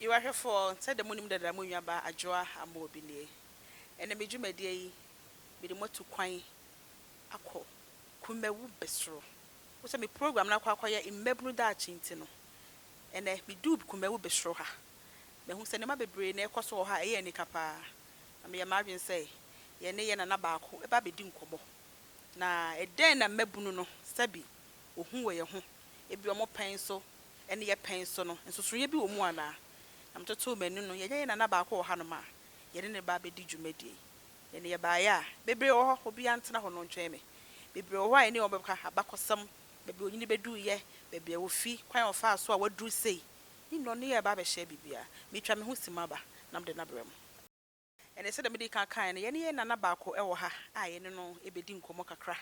Yiw, ahwɛfoɔ, sɛdeɛ monim dada mo nuabaa Adwoa Amobi nie. Ɛnnɛ me dwumadie yi, mede mo atu kwan akɔ Kumawu Besoro. Wohu sɛ me program no akɔ akɔyɛ mmabunu daakye nti no, ɛnnɛ meduu Kumawu Besoro ha. Mahu sɛ nneɛma bebree na ɛrekɔ so wɔ ha a ɛyɛ anika pa ara, na meyɛ m'adwene sɛ yɛne yɛn nana baako bɛba abɛdi nkɔmmɔ. Na ɛdɛn na mmabunu no sɛbi ohu wɔ yɛn ho, ebia wɔn pɛn so ne yɛn pɛn so no, nsosɔeɛ bi wɔ mu anaa? Na metotoo m'ani no, yɛanya yɛn nana baako wɔ hanom a yɛne no reba abɛdi dwumadie yi. Yɛne yɛbaeɛ a, bebree wɔ hɔ, obiara ntena hɔ na ɔntwɛn me. Bebree wɔ hɔ a yɛne wɔn bɛka abakɔsɛm, baabi a ɔnyini bɛduruiɛ, baabi a ɔfi, kwan a ɔfaa so a waduru sei, ne nnɔneyɛ a ɛba abɛhyɛ biribiara. Metwa me ho si mu aba na mede no abrɛ mo. Ɛnnɛ, sɛdeɛ medii kan kaeɛ no, yɛne yɛn nana baako wɔ ha a yɛne no bɛdi nkɔmmɔ kakra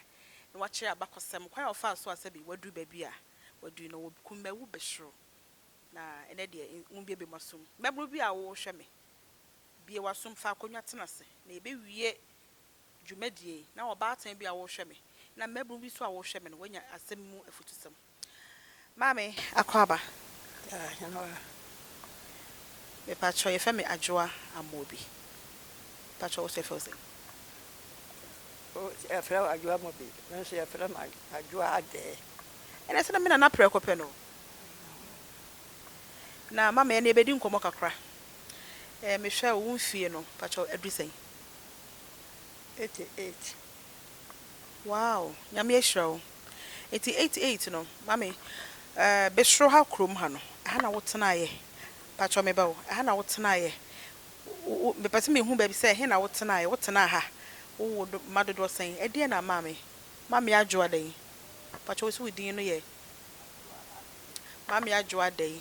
na wakyerɛ abakɔsɛm kwan a ɔfaa so a sɛbe waduru baabi a waduru no, wɔ kumawu bɛsoro. Na ɛnnɛ deɛ, monbuebue mo asom. Mmabunu bi a worehwɛ me, bue w'asom, fa akonnwa tena ase, na yɛbɛwie dwumadie yi. Na ɔbaatan bi a worehwɛ me, na mmabunu bi nso a worehwɛ me no, woanya asɛm mu afutusɛm. Maame Akwaaba, ah hɛn hɔ a, mepakyɛw yɛfrɛ me Adwoa Amobi, mepakyɛw wo so yɛfrɛ wo sɛn? O yɛfrɛ wo Adwoa Amobi, me nso yɛfrɛ me Adwoa Adɛɛ. Ɛnɛ sɛ na me Nana prɛko pɛ no, na maame ɛnɛ yɛbɛdi nkɔmmɔ kakra, eh mehwɛ wo wo mfie no pakyɛw adu sɛn? Eighty eight. Wow Nyame ahyira wo. Enti eight eight no mame eh besoro ha kurom ha no ɛha na wo tenaeɛ mpakyɛw me ba o ɛha na wo tenaeɛ wo wo mepɛ sɛ me hu baabi sɛ ɛhe na wo tenaeɛ wo tenaa ha wo wo do mma dodoɔ sɛn ɛdeɛn na mame mame adwoa dɛn mpakyɛw wo se wo din no yɛ mame adwoa dɛn.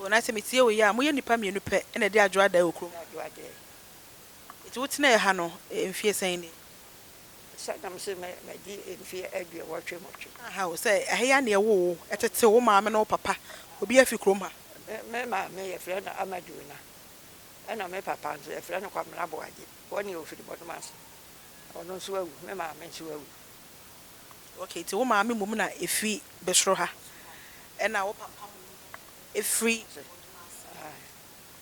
O na sɛ metie wo yɛ a, moyɛ nnipa mmienu pɛ na ɛde adwo adae wɔ kurom. Adwoadeɛ. Enti wotenaeɛ ha no mfeɛ sɛn ni? Sɛ na mese madi mfeɛ aduɔwɔtwe nwɔtwe. Aha o, sɛ ɛha yi ara na yɛwoo wo, ɛtetee wo maame ne wo papa, obiara firi kurom ha? Me maame yɛfrɛ no Amaduona, ɛna me papa nso yɛfrɛ no Kwamena Boagye, wɔn deɛ wɔfiri Bɔdoma ase. Ɔno nso awu, me maame nso awu. Okay nti wo maame mmom na ɛfiri bɛsoro ha ɛna wo papa mmom na ɛfiri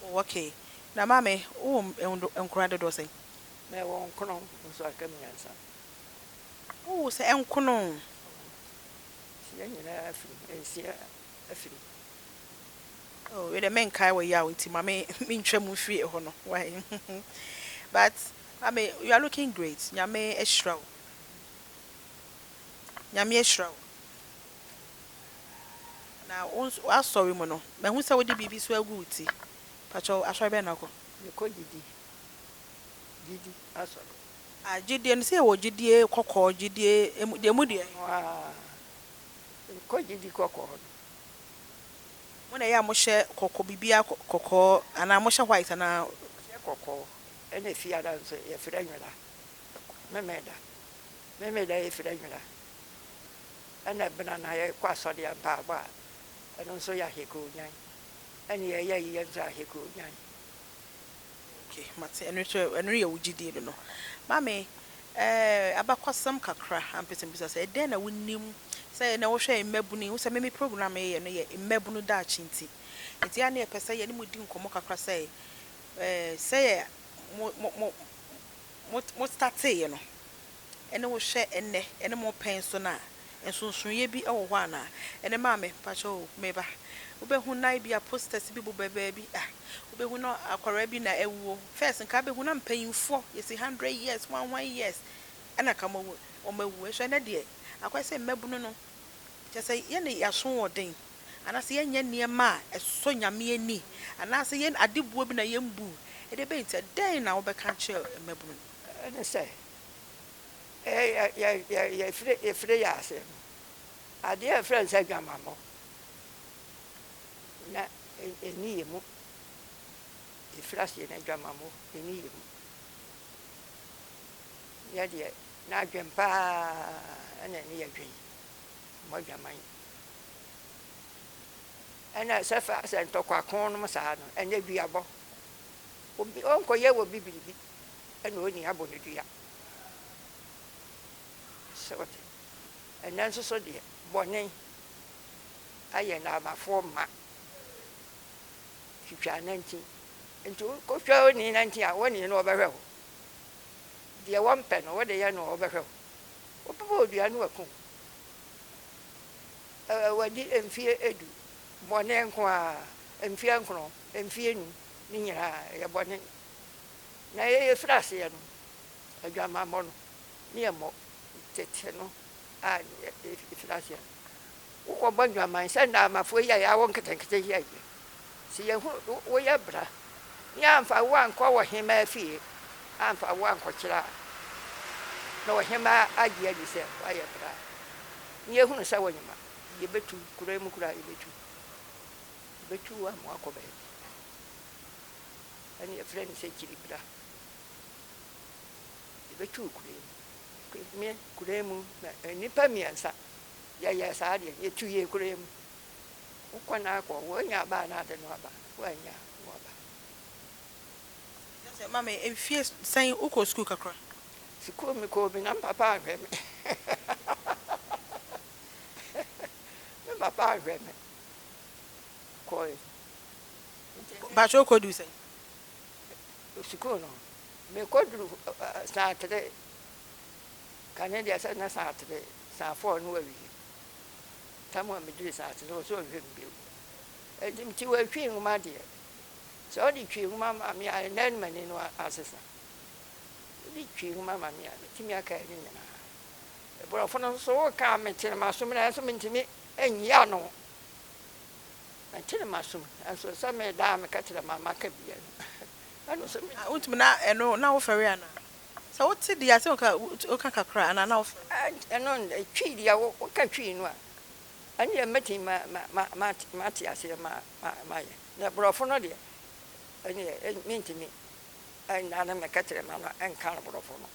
oh okay na maame wowɔ nkwadaa dodoɔ sɛn? Mewɔ nkono nso aka mmiɛnsa. Wowɔ sɛ nkono? Nsia nyinaa afiri nsia afiri. Oh wei deɛ menkae wɔ yaw nti ma me mentwa mu mfiri ɛhɔ no why but maame you are looking great nyame ahyira wo. Nyame ahyira wo. Na wo nso w'asɔre mu no, mahu sɛ wode biribi nso agu wo ti. Pakyɛ wo, asɔre bɛn na wokɔ? Mekɔ gyidi, gyidi asɔre. Ah, gyidie no, sɛ yɛwɔ gyidie kɔkɔɔ, gyidie emu, deɛ emu deɛ. Ɔno ara, mekɔ gyidi kɔkɔɔ no. Mo na ɛyɛ a mohyɛ kɔkɔ, biribiara kɔ, kɔkɔɔ, anaa mohyɛ white anaa? Yɛhyɛ kɔkɔɔ, ɛna fie ha nso yɛfrɛ nwera. Memeneda. Memeneda yɛ firi anwuna ɛna ɛbena na yɛkɔ asɔre a mpaabɔ a ɛno nso yɛ ahɛkɔ onyan ɛne yɛyɛ ayi yɛ nso ahɛkɔ onyan. Ok mate ɛno nso ɛno yɛ wo gyidie no no. Maame ɛɛ abakɔsɛm kakra ampɛ sɛ mebisa sɛ dɛn na wonim sɛ ɛnɛ wohwɛ mmabunu yi wohu sɛ me me program a yɛyɛ no yɛ mmabunu daakye nti nti a na yɛpɛ sɛ yɛne mo di nkɔmmɔ kakra sɛ ɛɛ sɛ yɛ mo mo mo mo mo starteeɛ no ne wo hwɛ nnɛ ne mo repɛn so no a, nsonsonoeɛ bi wɔ hɔ anaa? Ɛnne maame, mpakyɛ o, meba. Wobɛhu na ebia posters bi bobɔ baabi, ah, wobɛhu na akwadaa bi na awuo. First nka wobɛhu na mpanyinfoɔ, yɛsi hundred years, hwan hwan years ɛna ka wɔn awu. Nso ɛnnɛ deɛ, akɔyɛ sɛ mmabunu no, kyerɛ sɛ yɛne yɛaso wɔn den. Anaasɛ yɛnyɛ nneɛma a ɛsɔ Nyame ani, anaasɛ yɛn ade boɔ bi na yɛn bu, ɛdeɛ ɛbɛyɛ nti dɛn na wobɛka akyerɛ mmabunu no? Ɛne sɛ, yɛfiri yɛn aseɛ no, adeɛ a yɛfrɛ no sɛ adwamammɔ na ɛnni yɛn mu, yɛfiri aseɛ no adwamammɔ ɛnni yɛn mu, yɛ deɛ n'adwen paa na ɛne yɛn dwen, mmɔ adwaman. Ɛna ɛsɛ fa sɛ ntɔkwa kɔn nom saa no ɛnyɛ duabɔ. Obi ɔnkɔ yɛ wɔ bi biribi ɛna ɔni abɔ no dua. Sɛ ɔte. Ɛnɛ nso so deɛ bɔne ayɛ naamafoɔ ma. Twitwa nantin. Nti wo kɔ twa ɔni nantin a ɔni no ɔbɛhwɛ wo. Deɛ wɔmpɛ no wode yɛ no a ɔbɛhwɛ wo. Wobɛbɔ ɔdua no waku wo. wadi mfeɛ edu, bɔne nko ara, mfeɛ nkron, mfeɛ nnum, ne nyinaa ɛyɛ bɔne. Na yɛn yɛfiri aseɛ no, adwamammɔ no, ne yɛ mmɔ, tete no a yɛfiri aseɛ no, wokɔbɔ adwaman sɛ Ndaamafoɔ yi a yɛawo nketenkete yɛ yi, Se yehu wo, wo yɛ bra. Ne yɛamfa wo ankɔ ɔhemaa fie, amfa wo ankɔkyerɛ a, na ɔhemaa agye adi sɛ woayɛ bra. Ne yɛhunu sɛ wonye ma, yɛbɛtu, kuro yi mu koraa yɛbɛtu. Yɛbɛtu wo ama woakɔ baabi. Ɛne yɛfrɛ no sɛ kyiri bra. Yɛbɛtu wo kuro yi mu. Me kuro yi mu, na nnipa mmiɛnsa, yɛyɛɛ saa deɛ, yɛtu yɛɛ kuro yi mu. Wo kɔ na kɔ, woanya aba anaa de no aba? Woannya, wo aba. Kyerɛ sɛ mama mfie sɛn wokɔɔ sukuu kakra? Sukuu mekɔɔ bi na me papa anhwɛ me. Me papa anhwɛ me. Kɔe. Bakyɛ wokɔduu sɛn? Sukuu no, mekɔduru saa tere. Kane deɛ sɛ na saa tere, saa fɔɔ no wawie. tam a mede resi ase no, ɔsɛ ɔnhwɛ me bio. Enti mete wɔ etwi nwoma deɛ. Sɛ ɔde twi nwoma ma me a, ɛnɛ no m'ani no asesa. Ɔde twi nwoma ma me a, mɛtumi akae ne nyinaa. Aborɔfo no nso, woka a mete no m'asom nanso mentumi nyi ano. Mete no m'asom nanso sɛ meda a meka kyerɛ ma maka bi a, ɛno nso mentumi. Wontumi na ɛno na wofɛre anaa? Sɛ wo te deɛ a sɛ woka woka kakra anaa na wofrɛ. Ɛno twi deɛ wo woka twi no a ɛnneɛ mɛtumi ma ma ma ma mate aseɛ ma ma mayɛ na borɔfo no deɛ ɛnneɛ mentumi ɛnna no mɛka kyerɛ ma no ɛnka no borɔfo no.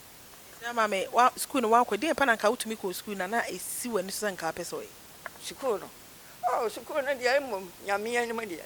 Ɛsɛ ama me wa sukuu no woakɔ deɛn pa na nka wotumi kɔɔ sukuu na na ɛsi w'ani so sɛ nka wopɛ sɛ woyɛ. Sukuu no oh sukuu no deɛ mmom Nyame anim deɛ.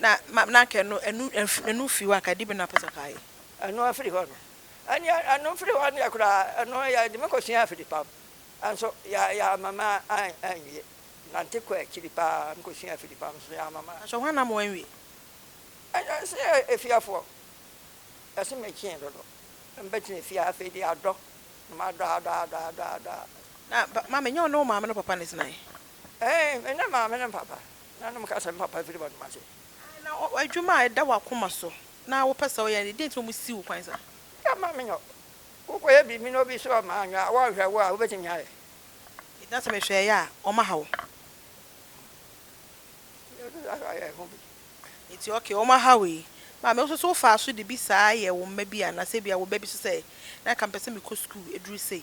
na ma na anka ɛno ɛnu ɛnf ɛnu fi hɔ anka ɛde bɛnu apɛsɛ ɔka ayɛ. Ɛno afiri hɔ no ɛneɛ ɛno firi hɔ neɛ koraa ɛno yɛde me kɔ sua afiri pam nso yɛ yɛama ma an anwie nante kɔ akyiri paa me kɔ sua afiri pam nso yɛama ma. Nanso hwan na ama wanwie? Ɛyɛ ɛsɛ yɛ efiafoɔ ɛse me kyee dodo mbɛ tena fie afei deɛ adɔ na ma adɔ adɔ adɔ adɔ adɔ. Na ba maame nyɛ wo ne wo maame no papa na ɛtenaeɛ? Ɛɛ me ne maame no papa Na nom ka sɛ, Me papa firi bɔne mu ase. Aane, na adwuma a ɛda w'akoma so na wopɛ sɛ woyɛ no deɛ, deɛ nti na wɔsi wo kwan saa? Ka ma menyɛ. Wokɔyɛ biribi na obi sɔɔ ma anwea a, wɔnhwɛ wo a, wobɛtumi ayɛ? Enti na sɛ mehwɛ yɛ a, wɔaha wo? Yesu san so yɛɛ ho bi. Enti ok, wɔaha wo yi. Maame, wo nso so wofaa so de bi saa yɛɛ wo mma bi anaa sɛ ebia wo ba bi nso sɛ, na anka mepɛ sɛ mekɔ sukuu ɛduru sei?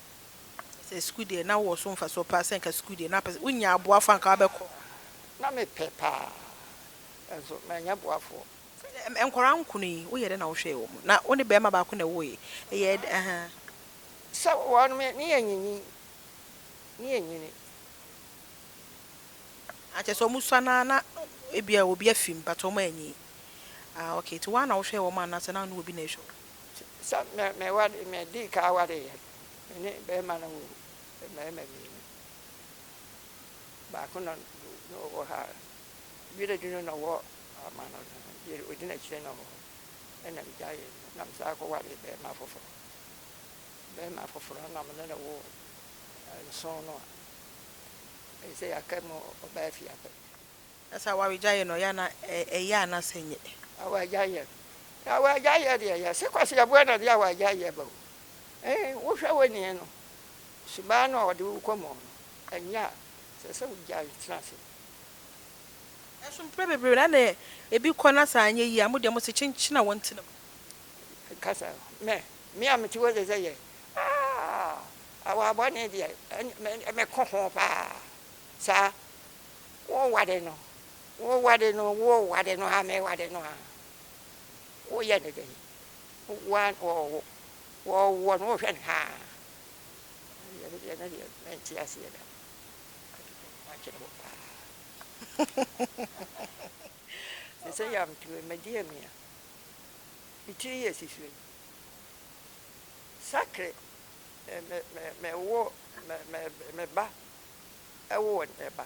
Sɛ sukuu deɛ, na wowɔ so mfasoɔ paa, sɛ nka sukuu deɛ, na wopɛ sɛ wonya aboafoɔ a nka wobɛkɔ. Na mepɛ paa, nso mannya boafoɔ. Nkwadaa nkron yi, woyɛɛ dɛn na wohwɛɛ wɔn? Na wo ne barima baako na ɛwoeɛ. Ɛyɛɛ dɛn? Ahaa. Sɛ wɔn, me ne yɛn nyinyin, ne yɛn nyini. Ah, kyerɛ sɛ wɔsua no ara na ebia obi afi mu, but wɔanyin. Ah, okay, nti wo ara na wohwɛɛ wɔn anaasɛ na wo ne obi na ɛrehwɛ wɔn? Sɛ me me ware me dii kan ware yɛ me ne bɛrima no wɔ mmarima mmienu baako na na ɔwɔ ha yere de no na ɔwɔ ama no no yere odi n'akyire na ɔwɔ hɔ ɛna me gya yɛ no na me saa kɔ ware bɛrima foforɔ bɛrima foforɔ na me ne no wɔ nson no a ɛsɛ yɛaka mu ɔbaa fie apɛ Sɛ awaregya yɛ no ɔyɛ ana ɛyɛ ana sɛ nyɛ. Awaregya yɛ no na awaregya yɛ deɛ ɛyɛ sɛ kwasi aboa na ɔde awaregya yɛ ba o eh wo hwɛ wo nie no sumaa no a ɔde wo kɔ mɔɔ no ɛnyɛ a sɛ sɛ wo gyae tena ase. Nanso mprɛ bebree no ɛna ɛbi kɔ na sɛ anyɛ yie a mo deɛ mo se kyenkyena wɔn tena mu. Kasa mɛ me a me te hɔ sɛ sɛ yɛ aah awa bɔne deɛ ɛne me me ko ho paa saa. Wo wade no wo wade no wo wade no aa me wade no aa wo yɛ no dɛn woa wɔɔwo wɔɔwoɔ no wo hwɛ no haa ɛyɛ me deɛ ɛno deɛ mɛnte aseɛ da makyere wo paa me sɛ yam tuo me deɛ me a me tiri yɛ si sue sakre me me me wo me me me ba woo ne ba.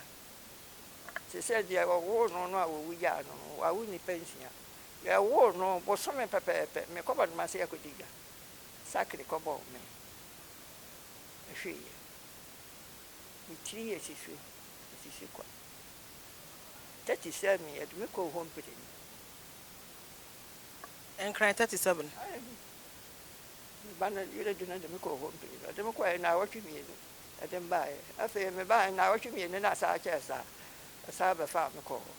Te sɛ deɛ wɔwoo no no a wɔwugyaa no no, wawo nnipa nsia. Yɛwoo no bosome pɛpɛɛpɛ, mekɔ bɛnom ase akɔdi dwa. Sakre kɔbɔɔ me. Mehweeɛ. Me tiri yɛ sisu, ɛsisi kwa. Tati sɛɛ me, yɛde me kɔɔ hɔ mprenu. Nkran 37. Me ba no yere de no de me kɔɔ hɔ mprenu. Ɔde me kɔeɛ nnawɔtwe mmienu. de me baeɛ. Afei mebaeɛ no, nnawɔtwe mmienu na asan kyɛɛ saa. Ɔsan bɛfaa me kɔɔ hɔ.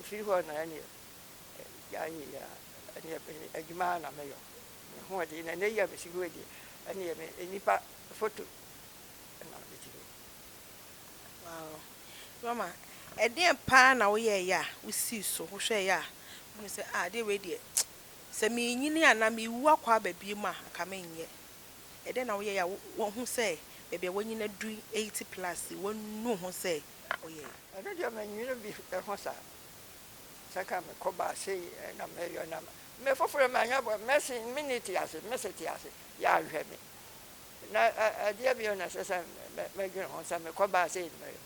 Ɛfiri hɔ no, ɛnneɛ gyaa yei ara, ɛnneɛ adwuma ara na meyɔ. Me ho de, na nnɛ yi a mesi hɔ yi deɛ, ɛnneɛ me nnipa foto na mede kyerɛ wo. Wow. Norma, ɛdeɛn pa ara na woyɛeɛ a wosii so, wohwɛeɛ a wohunuu sɛ, ah, adeɛ wei deɛ, sɛ merenyini anaa merewu akɔ aba bio mu a, anka merenyɛ? Ɛdɛn na woyɛe a woahu sɛ baabi a w'anyin adu yi, eighty plus yi, woanu ho sɛ woyɛe? Ɛno deɛ mannwene bi ho saa. Sɛ anka mekɔbaa sei na meyɔ na me foforɔ manya bɔ, mɛse me nni te ase, mese te ase, yɛanhwɛ me. Na ɛdeɛ bio na ɛsɛ sɛ medwene ho sɛ mekɔbaa sei na meyɔ?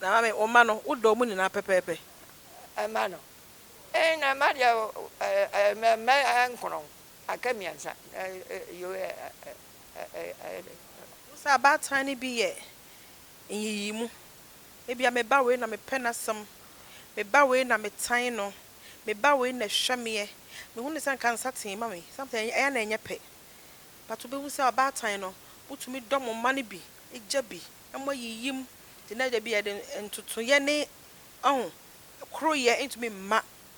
Na maame, wo mma no, wodɔ wɔn nyinaa pɛpɛɛpɛ? Mma no? Ee, na mma deɛ, mma nkorɔn. Aka mmiɛnsa yoo ɛyɛ den. Wohu sɛ abaatan no bi yɛ nyiyimu, ebia me ba wei na mepɛ n'asɛm, me ba wei na metan no, me ba wei na ɛhwɛ meɛ, mehu no sɛ nka nsa tee ma me, sometimes ɛyɛ a na ɛnyɛ pɛ but wobɛhu sɛ abaatan no motumi dɔ mo mma no bi, gya bi, mo ayiyim nti na dabi yɛde ntotoeɛ ne koroyɛ ntumi mma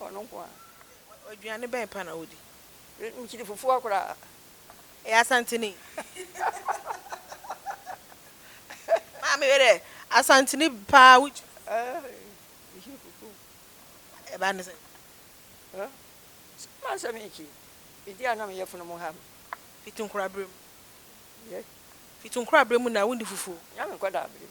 Ɔno nko ara. Aduane bɛn pa na wodi? Nkyene fufuo koraa. Ɛyɛ Asanteni. Maame wei deɛ Asanteni paa wo kyiri. Ɛɛ nkyene fufuo. Ɛbaa ne sɛn? Ɛɛ sɛ ma nsɛm nkyi. Me di a na me yɛfunu mo ha me. Fiti nkora berɛ mu. Yɛ. Fiti nkora berɛ mu na wondi fufuo. Nyame nkɔdaa berɛ mu.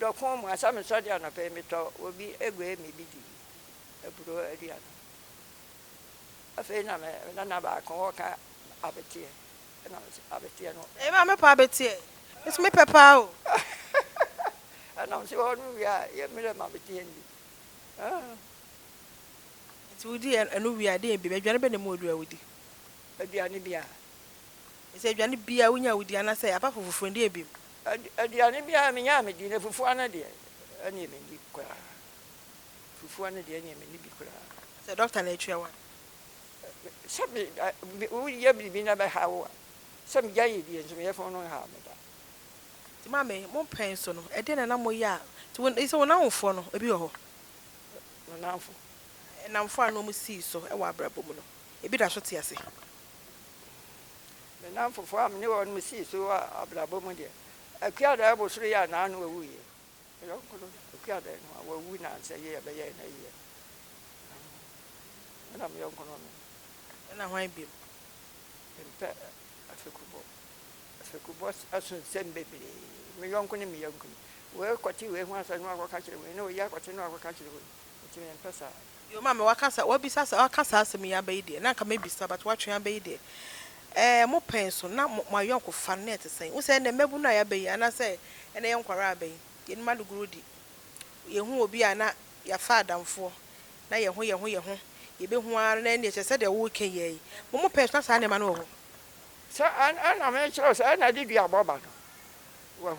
dɔko mu asɛ mesɔ de anɔpa yi metɔ obi aguai me bi di aburo aduane afei na me nana baako wɔ ka abeteɛ ɛna me sɛ abeteɛ no Ɛyɛ ma mepɛ abeteɛ me so mepɛ paa o. ɛna me sɛ wɔ no wie a yɛ mmerɛ ma abeteɛ ndi ah. Nti wo di ɛno wie a deɛ bi aduane bɛ na mu ɔdua wo di. Aduane biaa. Ɛsɛ aduane biaa wo nya wo di anasɛ apart from fufuo no deɛ bi mu. Aduane biara menyaa medi na fufuo no deɛ ɛneɛ menni koraa fufuo no deɛ ɛneɛ menni bi koraa. Sɛ doctor no atua wo a. Sɛ me woyɛ biribi na ɛbɛha wo a sɛ megya yɛ die nso meyɛ fo no nhaw me da. Nti maame mo mpɛn nso no ɛdeɛn na na mo yɛ a nti wo sɛ wo nanfoɔ no ebi wɔ hɔ. Me nanfo. Ɛnamfoɔ a na ɔmo sii so ɛwɔ abrabɔ mu no ebi da so te ase. Me nnamfofoɔ a me ne wɔnom sii so wɔ abrabɔ mu deɛ, Akua Dae Bosoreɛ a na ano ɔwuiɛ. Me yɔnko no, Akua Dae no, wawu nnansa yi a ɛbɛyɛɛ no ayie no. Me na me yɔnko no nom. Ɛna hwan bio? Mempɛ afekubɔ. Afekubɔ so nsɛm bebree. Me yɔnko ne me yɔnko ni. Wei kɔte wei ho asɛm na wakɔka akyerɛ wei, na wei akɔte na wakɔka akyerɛ wei. Enti mempɛ saa. Yo maame waka saa wabisa saa waka saa asɛm yi aba yi deɛ na anka mɛbisa but watwe aba yi deɛ ɛɛ mo pɛn so na mo ayɔnkofa no na ɛte sɛn wohu sɛ ɛnɛ mmabunu a yɛaba yi anaasɛ ɛnɛ yɛn nkwadaa a aba yi yɛnim adogorodi yɛhu obi a na yɛafa adamfoɔ na yɛho yɛho yɛho yɛbɛhu ara na ɛnneɛ kyerɛ sɛ deɛ woreka yi ara yi mo mo pɛn so na saa nneɛma no wɔ hɔ. Sɛ ɛn ɛna mekyerɛ wo sɛ ɛna de dua bɔ ba no wahu.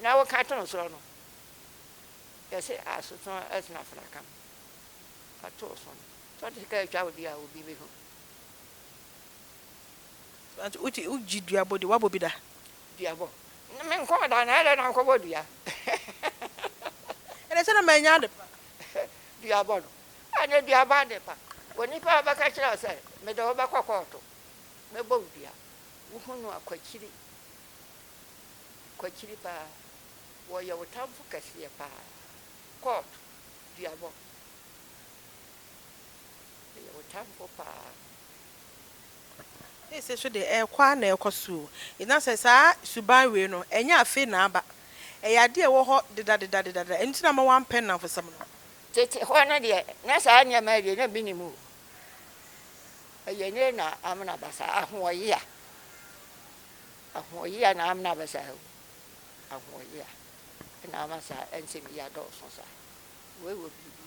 Na wo ka too sɔɔ no, yɛ se a so tɔn ɛsena fena kam, ka too so no, tɔn te ka atwa wo di a obi be hu. So ante wo te wo gye dua bɔ di, wa bɔ bi da? Dua bɔ? Na me nkɔɔ da, na ɛdɛ na nkɔ bɔ dua? Ɛdɛ sɛ na ma nya ade pa. Dua bɔ no? A na dua bɔ ade pa, wo nipa a bɛka kyerɛ wo sɛ me de wo bɛkɔ kɔɔto, bɛ bɔ wo dua, wo hu no a, kɔ akyiri, Kwakyiri paa wɔyɛ wo tamfo kɛseɛ paa kɔɔp duabɔ yɛ wo tamfo paa. Seesei nso deɛ ɛrekɔ ara na ɛrekɔ so o. Na sɛ saa suban wei no, ɛnyɛ afei na aba. Ɛyɛ adeɛ a ɛwɔ hɔ dedadedadedada. Ɛno nti na ama wɔampɛ nnamfosɛm no. Tete hɔ no deɛ, na saa nneɛma yi deɛ na mennim o. Ɛyɛ nnɛ na amena aba saa, ahoɔyea. Ahoɔyea na ama na bɛsa ha wu. Ahoɔyea na ama saa nsɛm yi adɔɔso saa. Wei wɔ biribi,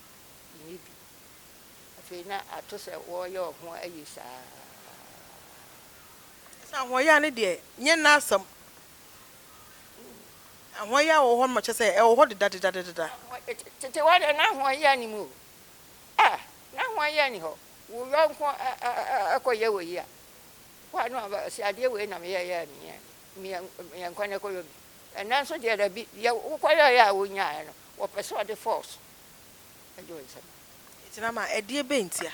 nni bi. Afei na ato sɛ wɔreyɛ wɔn ho ayi saa. Kyerɛ sɛ ahoɔyea no deɛ, nyɛ nnɛ asɛm. Ahoɔyea wɔ hɔ ma kyerɛ sɛ ɛwɔ hɔ dedadedadeda. Tete hɔ deɛ, na ahoɔyea nni mu o. Ah, na ahoɔyea nni hɔ. Wo yɔnko kɔyɛ wo ayi a, Kɔa no aba se adeɛ wei na meyɛ yɛ a meyɛ meyɛ nkɔ na ɛkɔyɔ bi ɛnɛ nso deɛ dabi deɛ wokɔ yɔ yɛ a wonyaɛ no wɔpɛ sɛ ɔde force ɛgye wo nsam. Tena ma ɛdeɛ bɛn ntia?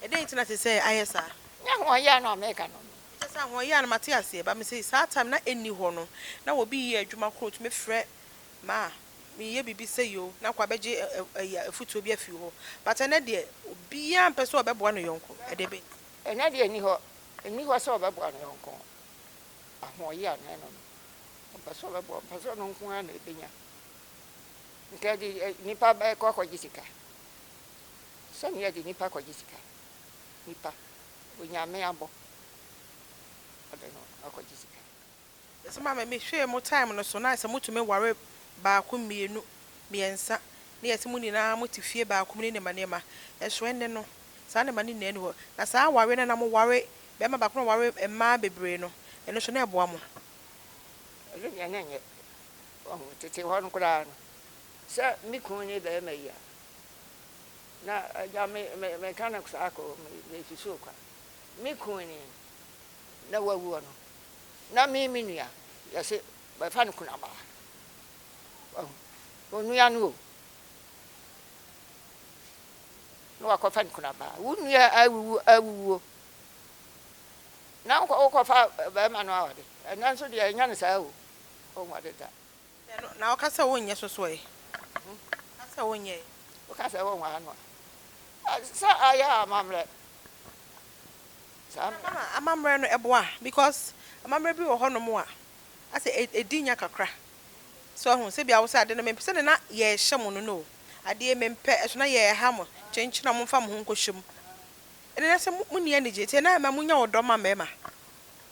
Ɛdɛn nti na ɛsɛ sɛ ayɛ saa? Nyɛ ahoɔyea no a meka no. Ɛkyɛ sɛ ahoɔyea no mate aseɛ but mese saa time na ɛnni hɔ no na obi yɛ adwuma korɔ ɔtumi frɛ ma a meyɛ biribi sei o na kɔ abɛgye afutuo bi afiri hɔ but ɛnɛ deɛ obiara mpɛ sɛ ɔbɛboa ne yɔnko ɛdeɛ bɛn nti? Ɛnnɛ deɛ nni hɔ, nni hɔ sɛ ɔbɛboa ne yɔnko. Ahoɔyea na ɛno no. Ɔmpɛ sɛ ɔbɛboa, ɔmpɛ sɛ ɔno nko ara na ɛbɛnya. Nka ɛde nnipa bɛkɔ akɔgye sika. Sɛnea ɛde nnipa kɔgye sika. Nnipa, onyame abɔ, ɔde no akɔgye sika. Mese maame me hwɛɛ mo time no so na sɛ mo tumi ware baako mmienu mmiɛnsa na yɛse mo nyinaa mo te fie baako mu ne nneɛma nneɛma nso ɛnne no saa nneɛma no nyinaa nni hɔ na saa awareɛ no na mo ware bɛɛma baako na ɔware mmaa bebree no ɛno nso na ɛboa mo. Ɛno deɛ na ɛnyɛ wahu tete hɔ no koraa no sɛ me kunu ne bɛɛma yi a na agya me me meka no saa kɔ me me susu kwa me kunu ni na wawu ɔno. na me me nua, yɛse bɛfa no kunabaa. Wahu? Onua no o. Na wakɔfa no kunabaa. Wo nua awuwu awuwuo. Na wokɔfa bɛrima no awade. Ɛnɛ nso deɛ ɛnyɛ no saa o. Ɔnware da. Sɛ no, na ɔka sɛ wonyɛ sosoɔe. Ka sɛ wonyɛe. Woka sɛ wonwɔ ano a. Sɛ ayɛ a amammerɛ. Saa mmerɛ. Ama amammerɛ no boa because amammerɛ bi wɔ hɔ nom a asɛ ɛdi nya kakra. So ahu, sɛ bia wo sɛ ade no mempɛ sɛdeɛ na yɛrehyɛ mo no no o, adeɛ yi mempɛ, ɛso na yɛreha mo, kyenkyen a momfa mo ho nkɔhyɛ mu. Ɛnɛ na sɛ monni anigyeɛ nti ɛno ara ɛma monya ɔdɔ ma mmarima.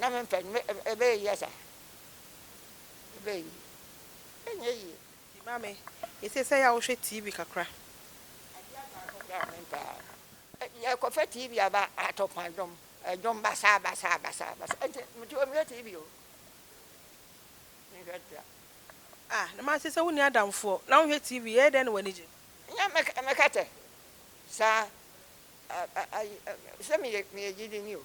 Na me mpɛ no ɛbɛyɛ yie asa ɛbɛyɛ yie ɛnyɛ yie. Nti maame yɛsɛ sɛ yɛ a wohwɛ TV kakra. Adeɛ aba akɔ koraa me mpɛ a yɛkɔ fɛ TV aba ato kwan dwom ɛdwom basaa basaa basaa basaa nti nti wɔ nhwɛ TV o me nhwɛ da. Ah na maame sɛ wo nni adamfoɔ na wohwɛ TV ɛyɛ dɛn na w'ani gye. Nyɛ mɛka mɛka tɛ saa a a ayi sɛ meyɛ meyɛ gyidini o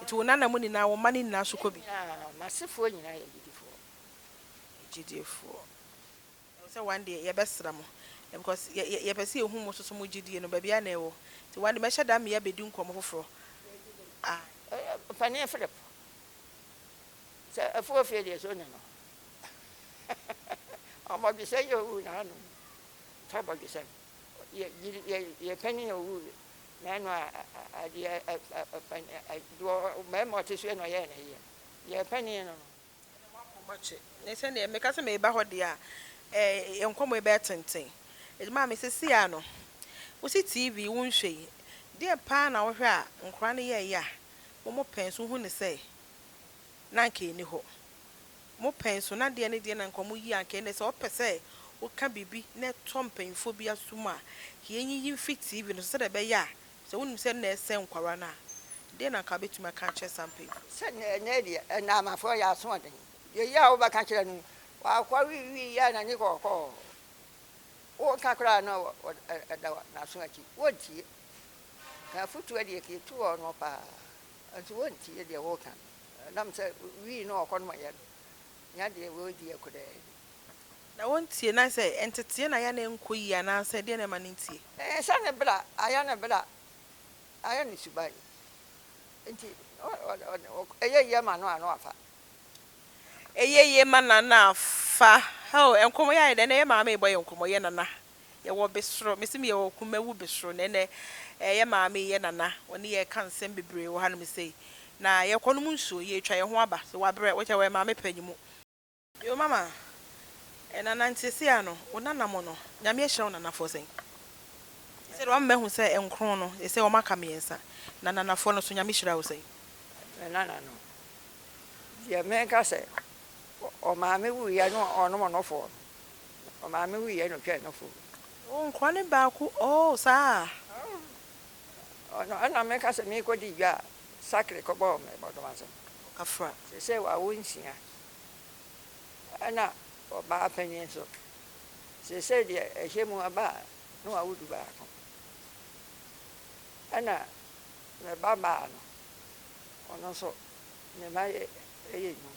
Enti wo nananom nyinaa, wo mma no nyinaa nso kɔ bi. Aa, m'asefoɔ nyinaa yɛ agyidifoɔ. Agyidifoɔ. Ɛwɔ sɛ one day yɛbɛsra mo, because yɛ, yɛ, yɛpɛ sɛ yɛhu mo nso so mo gyidie no, baabiara na ɛwɔ. Nti one day mɛhyɛ da ama yɛabɛdi nkɔmmɔ foforɔ. Aa. Ɛ, ɛ, Ɔpanin Philip, sɛ afuo fie deɛ, sɛ ɔnya no a? Abɔdwesɛ yi a ɔwuu n'anom, tɔ abɔdwesɛ no. Yɛ gyiri yɛ yɛ pɛni na ɔwu yɛ na ɛnɔ a adi ɛ ɛ ɛ pɛni ɛ ɛ duɔ bɛɛma ɔte so yɛ na ɔyɛ na yɛ yɛ pɛni yɛ nɔ. Ɛnɛ mo akɔ mo kye ne sɛ neɛ meka sɛ meba hɔ deɛ a ɛ yɛ nkɔmɔ yi bɛɛ tenten ɛdi maa me sisi a no wo si TV wo nhwɛ yi deɛ paa na wo hwɛ a nkora no yɛ yɛ a mo mo pɛn so wo hu ne sɛ na nka ɛni hɔ. Mo pɛn so na deɛ ne deɛ na nka ɔmo yi anka ɛnɛ sɛ ɔpɛ sɛ woka biribi na ɛtɔ mpanyinfoɔ bi asom a yɛn yiyi mfiri TV no so sɛdeɛ ɛbɛyɛ a sɛ wonim sɛ na ɛsɛn nkwadaa no a deɛ na nka wobɛtumi aka akyerɛ saa mpanyinfoɔ no. Sɛ nea ɛnɛ deɛ ɛnaamafoɔ yɛ asoɔden deɛ yɛ a wobɛka kyerɛ no wakɔ we we yɛ a n'ani kɔɔkɔɔ woka koraa na ɔda n'aso akyi wontie ka afutuo deɛ kɛ ɛtu hɔ no paa nso wontie deɛ woka no. Nam sɛ wii no ɔkɔ no ma yɛn nya deɛ wei di akudɛɛ. Na wontie na sɛ nteteɛ na ayɛ na ɛnkɔ yie anaasɛ deɛ na ɛma no ntie. Sɛ ne bra ayɛ ne bra ayɛ ne suban nti ɛyɛ yie ma no a na wafa. Ɛyɛ yie ma no a na afa. Hɛo nkɔmɔ yi ayɛ dɛ ɛnɛ yɛ maame bɔ yɛ nkɔmɔ yɛ nana Yɛwɔ besoro, mese me yɛwɔ kumawu besoro, na ɛnɛ yɛ maame, yɛ nana, wɔne yɛn reka nsɛm bebree wɔ hanom sei, na yɛrekɔ nom nsuo, yɛretwa yɛn ho aba, so wabrɛ, wokyɛ wɔyɛ maame panyin mu. Yoo mama, nana nti seesei a no, wo nana mo no, Nyame ahyira wo nanafoɔ sɛn? Seesei no wama mahu sɛ nkron no, seesei wɔn aka mmiɛnsa, na nanafoɔ no so Nyame hyira wo sɛn? Me nana no, deɛ menka sɛ, ɔmaame wuiɛ ne ɔnom nofoɔ no, Ɔmaame wui yɛ no twɛɛ no fo. Oh nkoa ne baako oh saa a. Oh ɔno ɛna me ka sɛ me kɔ di dwa a sakre kɔ bɔ me bɔdom asɛm. Ɔkafra. Sesei wawo nsia ɛna ɔbaa panyin nso sesei deɛ ɛhyɛ mu aba a na wawo du baako ɛna me ba baa no ɔno nso ne mma yɛ ɛyɛ nnum.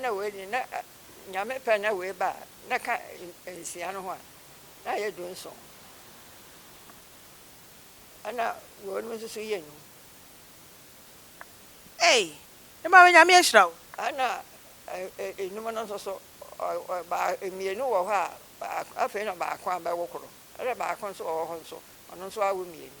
na wei de na Nyame pɛ na wei ba a, na ka nsia no ho a, na ayɛ du nson. Ɛna wei no nso so yɛ num. Ei, ne maame Nyame ahyira wo. Ɛna enum no nso so, mmienu wɔ hɔ a, afei na baako abɛwo koro. Ɛna baako nso wɔ hɔ nso, ɔno nso awo mmienu.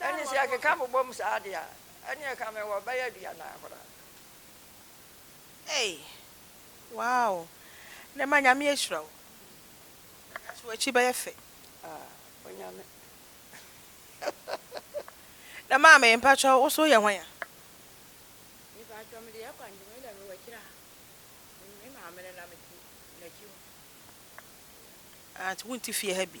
Ɛnde sɛ yɛkeka bobom saa de a, ɛnneɛ ka mewɔ bɛyɛ aduanan koraa. Ei! Wow! Nɛ ma Nyame ahyira wo. Ɛda so w'akyi bɛyɛ fɛ. Ah, Onyame. Nɛ maame, mpakyɛw, wo so woyɛ hwan a? Me paatwɔ mede yɛ kwan nti me deɛ mewɔ akyire ha. Me maame no na mete n'akyi hɔ. Ah, nti wonte fie ha bi.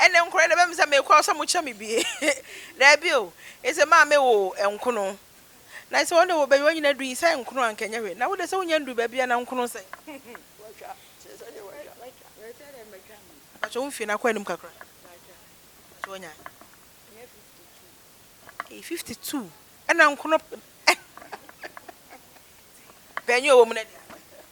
Ɛnde nkora na ɛbɛmisa me kwa o sɛ mokyɛ me bi Daabi o, ese maa me wo nkono Na ese wɔn de wɔbɛyi wɔn nyina du yi sɛ nkono anka ɛnyɛ hwee Na wo de sɛ wonya ndu baabi a na nkono sɛ Watwa, kyerɛ sɛ deɛ watwa Watwa, na ɛsɛ dɛ mɛtwa me Mpakyɛ wo mfie no akɔ anim kakra Mpakyɛ Mpakyɛ wanya ayi Ɛnyɛ 52 Ei 52 ɛna nkono Bɛn yɛ ɔwɔ mu na deɛ.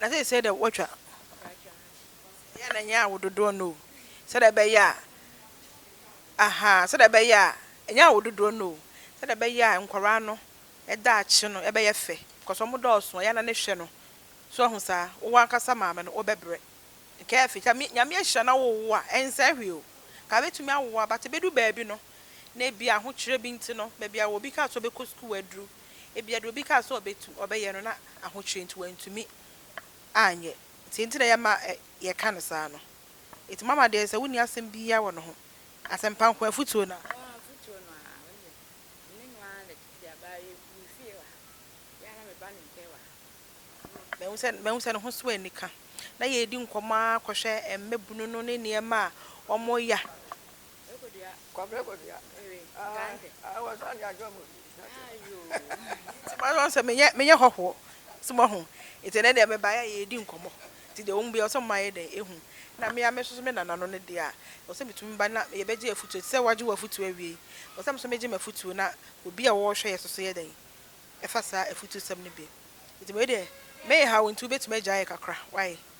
Na seesei deɛ wɔatwa yɛ na ɛnyɛ awo dodoɔ no o sɛdeɛ ɛbɛyɛ a ahaa sɛdeɛ ɛbɛyɛ a ɛnyɛ awo dodoɔ no o sɛdeɛ ɛbɛyɛ a nkwadaa no daakye no ɛbɛyɛ fɛ because wɔn dɔɔso ɛyɛ a na ne hwɛ no so ahu saa wo w'ankasa maame no wobɛbrɛ nka afei sɛ Nyame ahyira na wowo a ɛnsɛe hwee o nka bɛtumi awoa but ɛbɛdu baabi no na ebi ahokyerɛ bi nti no baabi a obi kaa sɛ ɔbɛkɔ sukuu aduru. Ebia deɛ obi kaa sɛ ɔbɛtu, ɔbɛyɛ no, na ahokyerɛ nti wantumi anyɛ. Nti nti na ɛyɛ ma yɛka no saa no. Nti mama deɛ sɛ wonni asɛm biara wɔ ne ho. Asɛmpa nko ara, afutuo no ara. Ɔɔ, afutuo no ara. Wo deɛ, me ne no ara na tete a baa yɛ me fie wɔ ha. Yɛ ara na meba ne nkyɛn wɔ ha. Mahu sɛ mahu sɛ ne ho so anika. Na yɛredi nkɔmmɔ ara kɔhwɛ mmabunu no ne nneɛma a wɔyɛ a. Kwadwo Kwabrɛ Kwadwo ah ah wɔsan de adwo mu bi na kyerɛ nti ma wɔn sɛ menyɛ menyɛ hɔhoɔ so ma ho nti ɛnɛ deɛ meba yɛ yɛdi nkɔmmɔ nti deɛ wɔn bia wɔsɛ mma yɛ dɛn ehu na mea me soso me nana no ne deɛ a wɔsɛ metumi ba na yɛbɛgye afutuo nti sɛ wɔagye wɔ afutuo awie yi wɔsɛ meso megye m'afutuo na obi a wɔrehwɛ yɛ soso yɛ dɛn ɛfa saa afutuo sɛm no bi nti wei deɛ meha wo nti wobɛtumi agya yɛ kakra wae.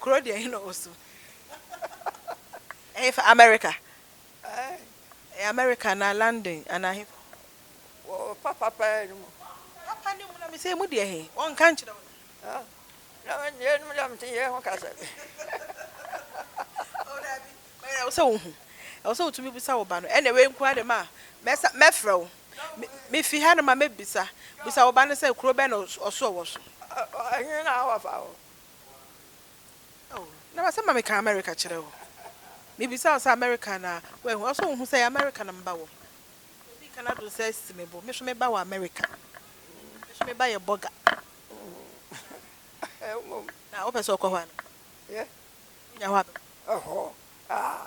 Kuro deɛ hena ɔsu? Ɛhe fa America? Ɛyɛ America anaa London anaa he fa? Wɔ papa paa no mu. Papa no mu na mesɛ emu deɛ he? Wɔnka nkyerɛ wo da? Na yɛ nom deɛ mete yɛ ho kasa bi. O daabi, but ɛwɔ sɛ wohu. Ɛwɔ sɛ wotumi bisa wo ba no. Ɛnna wei nko ara de ma a, mɛsa mɛfrɛ wo. Mefi hanom a mɛbisa bisa wo ba no sɛ kuro bɛn na ɔso ɔwɔ so. He na wafa wo? Oh, na m'asɛm a meka America kyerɛ wo. Mebisa wo sɛ America na woahu, ɔsɛ wohu sɛ ɛyɛ America na meba wɔ. Obi ka n'adwene sɛ asi me bo, me nso meba wɔ America. Me nso meba yɛ burger. Ɛwom. Na wopɛ sɛ wokɔ hɔ anaa? Yeah. Wonya hɔ a bɛboa wo. Ɛhɔ? Ah,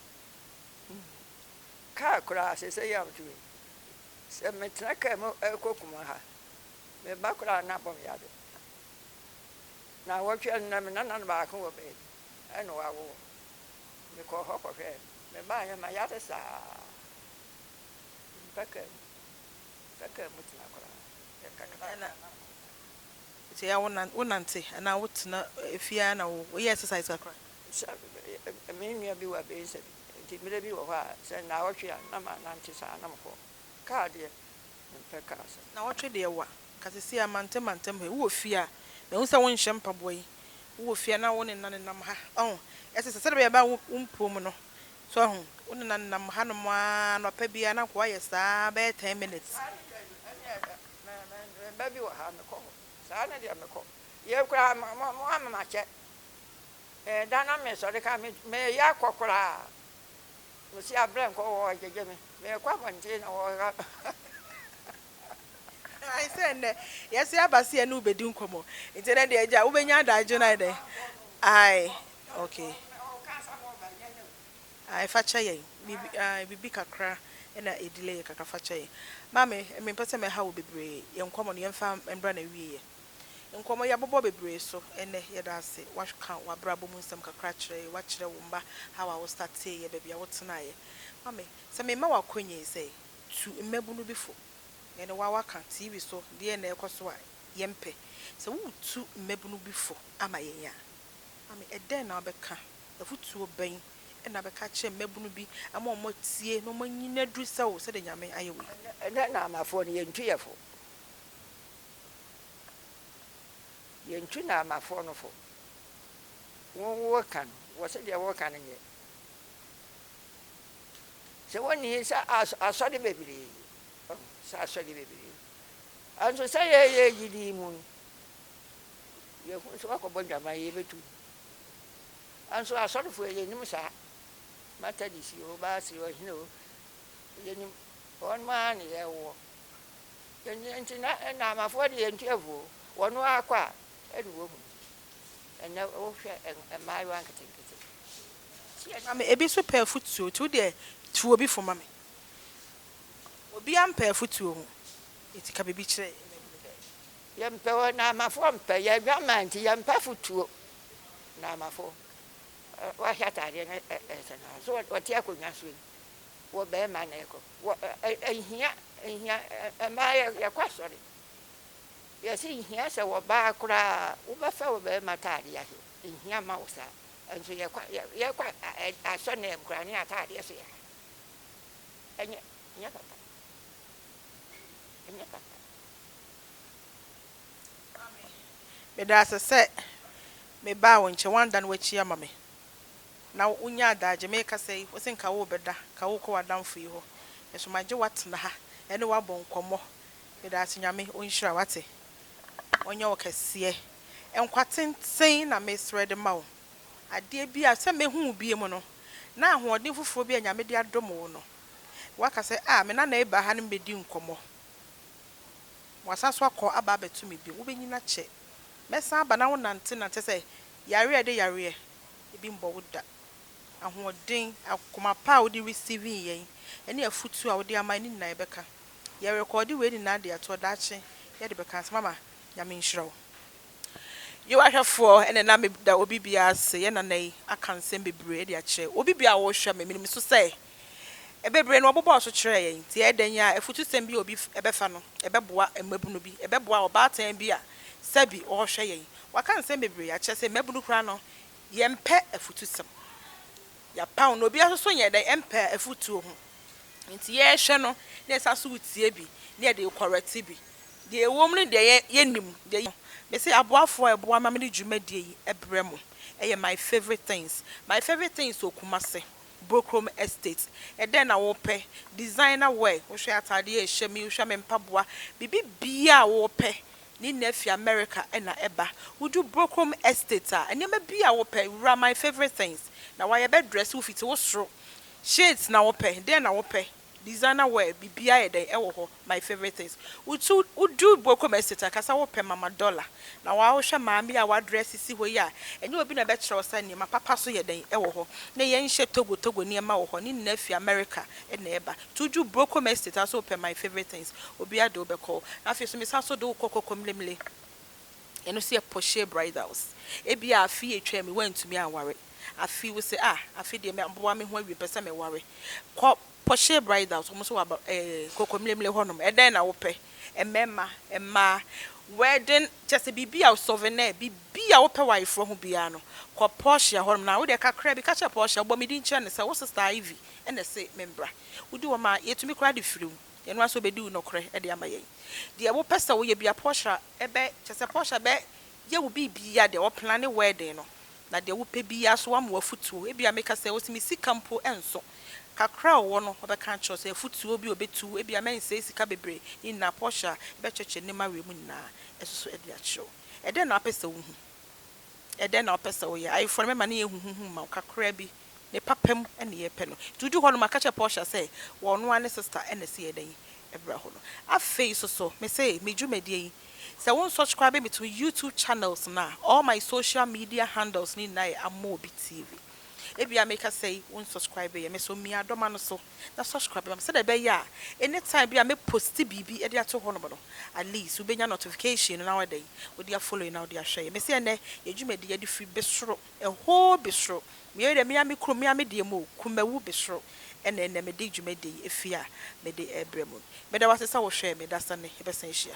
Hmm. Kaa koraa sɛsɛ yi a meto yi, sɛ metena kaa mu ɛkɔ kuma ha, me ba koraa na bɔ me yade. Na wɔtwe ɛnna me nana no baako wɔ baabi, ɛna wawo wɔn. Mekɔ hɔ kɔhwɛ no, me ba yɛ ma yade saa. Mpɛ kaa mu, mpɛ kaa mu tena koraa. Ɛna sɛ yɛ a wonante anaa wotena fie ara na woyɛ exercise kakra? Me nua bi wɔ Abiesɛm, enti bere bi wɔ hɔ a, sɛ nnawɔtwe a, na manante saa, na mekɔ. Kaa deɛ, mempɛ kaa saa. Nnawɔtwe deɛ wa, nka seesei a mantam mantam ha yi, wowɔ fie a, mahu sɛ wonhyɛ mpaboa yi, wowɔ fie a na wo ne nna nenam ha, wahu, ɛsɛ sɛ sɛdeɛ ɛbɛyɛ a ɛbɛyɛ a wompue mu no, so wahu, wo ne nna nenam hanom ara, anɔpa biara na nkoa yɛ saa ara bɛyɛ ten minutes. Saa ne deɛ, ɛnneɛ ɛɛ, me, me, me mma bi wɔ ha a, mekɔ hɔ. Saa ne deɛ mekɔ. Yei koraa, mo, mo, moama makyɛ, Ɛɛ da na me sɔre ka me me yɛ akɔ koraa me si abrɛ nkɔ wɔ gyegye me me kɔ abɔnten na wɔ ha Ae sɛ nnɛ yɛse aba se yɛne wo bɛdi nkɔmmɔ nti ɛnɛ deɛ agya wobɛnya adagye no ayɛ dɛn ae ok ae fa kyɛ yɛn biribi ae biribi kakra na ɛdelay yɛ kakra fa kyɛ yɛn maame mempɛ sɛ mɛha wo bebree yɛn nkɔmmɔ no yɛmfa mbra na ɛwieɛ. Nkɔmmɔ yi abobɔ bebree so ɛnnɛ. Yɛda ase w'aka w'abrabɔ mu nsɛm kakra akyerɛ yɛ, w'akyerɛ wo mma how a wo startee yɛ, baabi a wo tenaa yɛ. Ma me sɛ me mma w'akɔnya yi sɛ tu mmabunu bi fo. Me ne wo a w'aka TV so deɛ na ɛkɔ so a yɛ mpɛ. Sɛ wo tu mmabunu bi fo ama yɛn a, ma me ɛdɛn na wo bɛka? Afutuo bɛn na wo bɛka akyerɛ mmabunu bi ama wɔn atie na wɔn anyin aduru sɛ wo sɛdeɛ Nyame ayɛ wo yi? Ɛnnɛ Nanafoɔ no yɛntu yɛ fo. Yɛntu Naamafoɔ no fo. Wo woka no, wɔse deɛ woka no nyɛ. Sɛ wɔnni he sɛ as asɔde bebree, ɔho, sɛ asɔde bebree. Anso sɛ yɛyɛ gyidi mu no, yɛhu sɛ wakɔbɔ ndwaman yɛbɛtu no. Anso asɔdefoɔ yɛnim saa. Matadisi o, Baasere o, hene o, yɛnim. Wɔn maa ne yɛwoɔ. Ɛnneɛ nti na Naamafoɔ deɛ nti avuo wɔn ara kɔ a ɛna wɔhunu ɛnɛ wohwɛ mmaayewa nketenkete. Tie na me ebi nso pɛ afutuo nti wodeɛ tu obi fo ma me obiara mpɛ afutuo ho nti ka biribi kyerɛ yɛn. Yɛmpɛ wɔ Naamafoɔ mpɛ yɛ adwaman nti yɛmpɛ afutuo Naamafoɔ wahyɛ ataadeɛ no ɛsɛ no so wɔte akonnwa so yi wɔ bɛrima na ɛkɔ. Wɔ nhia nhia mmaa yɛ yɛkɔ asɔre yɛsi nhia sɛ wɔ baa koraa wobɛfa wɔ bɛrima ataadeɛ ahyɛ nhia ma wo saa nso yɛkɔ yɛkɔ asɔ na ɛm koraa ne ataadeɛ so yɛ ha ɛnyɛ ɛnyɛ papa ɛnyɛ papa. Meda ase sɛ mebaa wo nkyɛn, woandan w'akyi ama me. na wonya adaagye. Merekasa yi, wose nka worebɛda, nka worekɔ w'adamfo yi hɔ, nso magye wo atena ha ne wo abɔ nkɔmmɔ. Meda ase, Nyame ɔnhyira wo, wate? Ɔnyɛ wo kɛseɛ. Nkwa tenten na meresrɛ de ma wo. Adeɛ bi a, sɛ mɛhu wo bio no, na ahoɔden foforɔ bi a Nyame de adom wo no, woaka sɛ, Ah, me nana rebɛba ha ne me bɛdi nkɔmmɔ. Wasan nso akɔ aba abɛto me bio. Wobɛnyini akyɛ. Mɛsan aba na wonantenante sɛ yareɛ a ɛde yareɛ ebi mbɔ wo da. Ahoɔden, akoma pa a wode receiving yɛn, ɛne afutuo a wode ama yɛn ne nyinaa yɛbɛka. Yɛ rekɔɔde wei nyinaa de ato hɔ, daakye yɛde bɛka asɛm ama. Nyame nhyira wo. Yewa ahwɛfoɔ na ɛna meda obi biara ase, yɛn nana yi aka nsɛm bebree de akyerɛ obi biara a ɔrehwɛ me, menim nso sɛ Bebree na wɔbobɔɔ so kyerɛɛ yɛn. Enti ɛyɛ dɛn ara a, afutusɛm bi a obi bɛfa no, ɛbɛboa mmabunu bi. Ɛbɛboa ɔbaatan bi a sɛbi ɔrehwɛ yɛn. Wɔaka nsɛm bebree akyerɛ sɛ mmabunu koraa no, yɛmpɛ afutusɛm. Yɛapaw no. Obiara nso so nyɛ dɛn? Ɛmpɛ afotuo ho. Enti yɛrehwɛ no, na yɛsan nso retie bi, na yɛde rekɔrɛte bi. Deɛ ɛwom ne deɛ yɛnnim. Deɛ yɛnim no, mese aboafoɔ a ɛboa ma mede dwumadie yi brɛ mo. Ɛyɛ my favourite things. My favourite things wɔ Kumasi. Brokrom Estate, ɛdɛn na wopɛ? Designer wear, wohwɛ ataadeɛ a ɛhyɛ me, wohwɛ me mpaboa, biribi biara a wopɛ, ne nyinaa firi Amerika na ɛba. Wodu Brokrom Estate a, nneɛma biara a wopɛ, wura my favourite things, na wɔayɛ, bɛdrɛse wo fiti wo soro, shades na wopɛ, dɛn na wopɛ? Designer wear biribiara yɛ dɛn wɔ hɔ my favourite things wotu wodu Bokom estate a kasa wopɛ mama dollar na waa wohwɛ maame yi a wadress si hɔ yi a ɛnyɛ obi na ɛbɛkyerɛ wo sɛ nneɛma papa so yɛ dɛn wɔ hɔ na yɛn hyɛ Togo Togo nneɛma wɔ hɔ ne nyinaa fi America na ɛba nti woduru Bokom estate a sɛ wopɛ my favourite things obiara de wo bɛkɔ hɔ na afei nso mesan nso de wo kɔ Kɔkɔmlemle ɛno nso yɛ poshee bridals ebia afe yi atwam yi woantumi anware. afe wo se ah afe deɛ maboa me ho awie mpɛ sɛ me ware kɔ Porsche bridals wɔn nso wɔ aba ɛɛ Nkokomlemle hɔ nom ɛdɛn na wo pɛ mmɛɛma mmaa wedding kyɛ sɛ biribi a souvenir biribi a wo pɛ wɔ ayeforɔ ho biara no kɔ Porsche hɔ nom na wo deɛ kakra bi ka kyerɛ Porsche ɔbɔ me din kyerɛ no sɛ wo sister Ivy ɛna ɛse me mbra wo di wɔn a yɛtumi koraa de firi wo yɛn ara nso ɔbɛdi wo nɔkorɛ ɛde ama yɛn deɛ wo pɛ sɛ wo yɛ bia Porsche ɛbɛ kyɛ sɛ Porsche ɛbɛ yɛ wo biribi a deɛ ɔplane wedding no Na deɛ wopɛ biara so, wama wo afotuo. Ebia meka sɛ, ɔse me sika mpo nso. Kakra a ɔwɔ no, ɔbɛka akyerɛ wo sɛ afotuo bi a ɔbɛtu wo. Ebia mɛnsɛe sika bebree. Ne nyinaa, Portia, yɛbɛkyerɛkyerɛ nneɛma wei mu nyinaa nso so de akyerɛ wo. Ɛdɛn na wopɛ sɛ wohu? Ɛdɛn na wopɛ sɛ woyɛ? Ayeforɔ no, mɛma ne yɛ huhuhu mma wo kakra bi. Ne papa mu na yɛpɛ no. Nti odu hɔ no maka kyerɛ Portia sɛ wɔ ɔno ara ne sister na ɛsɛ yɛ dɛn ɛbra hɔ no. Afei soso mese me dwumadie yi sɛ wo nsɔscraibe me to YouTube channels no a all my social media handles no nyinaa yɛ Amobi TV. Ebia me kasa yi wo nsɔscraibe yɛ me so mia dɔma no so na sɔscraibe ma me sɛdeɛ ɛbɛyɛ a anytime bi a me posti biribi ɛde ato hɔ nom no at least wo bɛnya notification no na wayɛ dɛn wode afollow yɛ na wode ahwɛ yɛ. Mese ɛnɛ yɛ dwumadie yɛde firi besoro. Ɛhoo besoro, meyɛ dɛ mea me kunu mea me deɛ mu o, kumawu besoro, ɛna ɛnɛ me de dwumadie yi ɛfie a me de ɛɛbrɛ mu. Meda wo ase sɛ wo hwɛɛ me, dasane, yɛbɛsan ahyia.